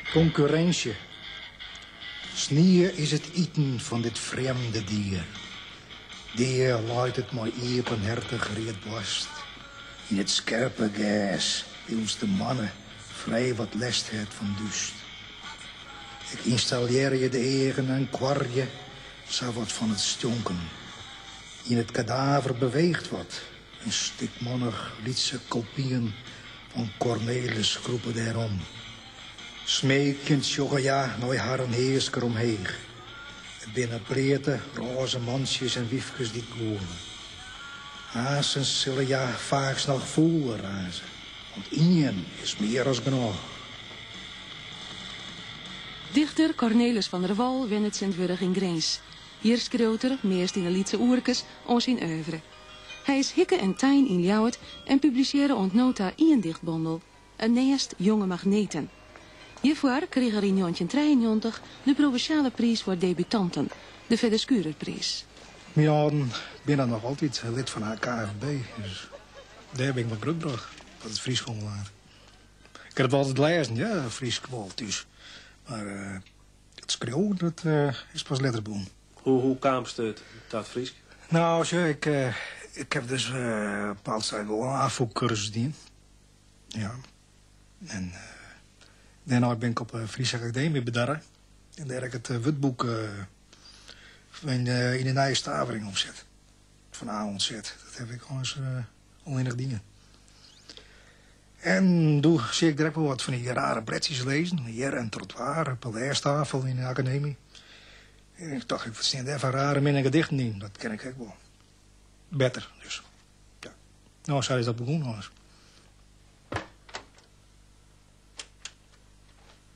Konkurrinsje. Snie is it iten fan dit frjemde dier. Dea leit it mei iepenhertich read boarst yn it skerpe gers, wylst de moanne frij wat lêst hat fan dúst. Ik ynstallearje de eagen en koarje sawat fan it stjonken. Yn it kadaver beweecht wat. In stikmannich lytse kopyen fan Cornelis krûpe dêr om. Smeekjend sjogge hja nei harren heasker omheech. It binne bleate, rôze mantsjes en wyfkes dy't goane. Aanstens sille hja faaks noch fûler raze, want ien is mear as genôch. Dichter Cornelis van der Wal wennet tsjintwurdich yn Grins. Hjir skriuwt er, meast yn 'e lytse oerkes, oan syn oeuvre. Hy is hikke en tein yn Ljouwert en publisearre oant no ta ien dichtbondel, In nêst jonge magneten. Hjirfoar krige er yn njoggentjintrijeennjoggentich de provinsjale priis foar debutanten, de Fedde Schurerpriis. Myn âlden binne noch altyd lid fan de KFB, dus dêr bin ik mei grutbrocht, wat it Frysk oanbelanget. Ik ha it wol altyd lêzen, ja, Frysk wol thús, mar. It skriuwen dat, is pas letter begûn. Hoe, hoe kaamst ta it Frysk? Nou, sjo, ik, ik haw dus op bepaald stuit wol in Afûk-kursus dien. Ja. En dêrnei bin ik op de Fryske Akademie bedarre. En dêr haw ik it wurdboek yn de nije stavering omset. Fan A oant Z. Dat haw ik eins allinnich dien. En doe seach ik dêr ek wol wat fan dy rare bledsjes lizzen, Hjir en Trotwaer, op 'e lêstafel yn de akademy. Ik tocht, wat stean dêr foar rare minne gedichten yn, dat ken ik ek wol. Better dus. Ja. Nou, sa is dat begûn, ommers.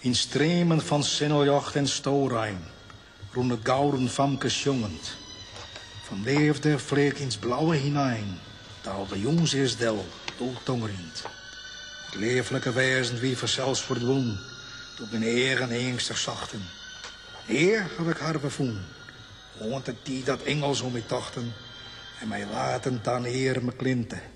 Yn streamen fan sinneljocht en storein rûn it gouden famke sjongend. Fan leafde fleach ins Blaue hinein, daalde jûns earst del doe tongerjend. It leaflike wêzen wie fansels ferdwûn doe't myn eagen eangstich sochten. Nea haw ik har wer fûn, oant de tiid dat ingels om my tochten en my laten ta in earme klinte.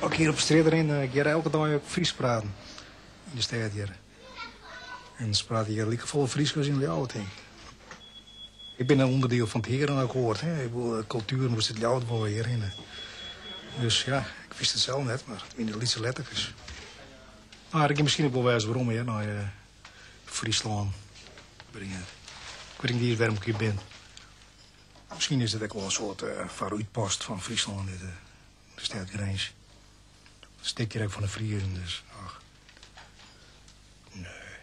As ik hjir op strjitte rin, ik hear elke dei ek Frysk praten yn de stêd hjir. En se prate hjir likefolle Frysk as yn Ljouwert tink ik. Ik bin in ûnderdiel fan it Herenakkoart, ik bedoel, kultuer moast út Ljouwert wol hjir hinne. Dus ja, ik wist it sels net, mar it wiene de lytse letterkes. Mar ik gean miskien ek wol wêze werom hjir nei Fryslân bringe. Ik wit ek net iens wêrom ik hjir bin. Miskien is it ek wol in soart foarútpost fan Fryslân, de stêd Grins. Dat stikt hjir ek fan de Friezen, dus ach. Nee.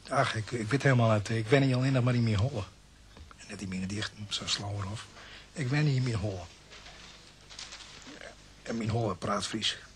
Ach, ik, ik wit helemaal net. Ik wenje allinnich mar yn myn holle. En net yn myn gedichten, sa Slauerhoff. Ik wenje yn myn holle. En myn holle praat Frysk.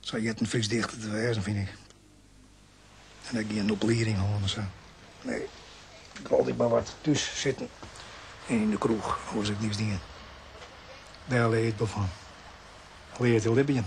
Sa heart in Frysk dichter te wêzen, fyn ik. En ek gjin oplieding hân en sa. Nee, ik ha altyd mar wat thús sitten en yn de kroech, ha 'k eins niks dien. Dêr lear je ek wol fan. Lear je te libjen.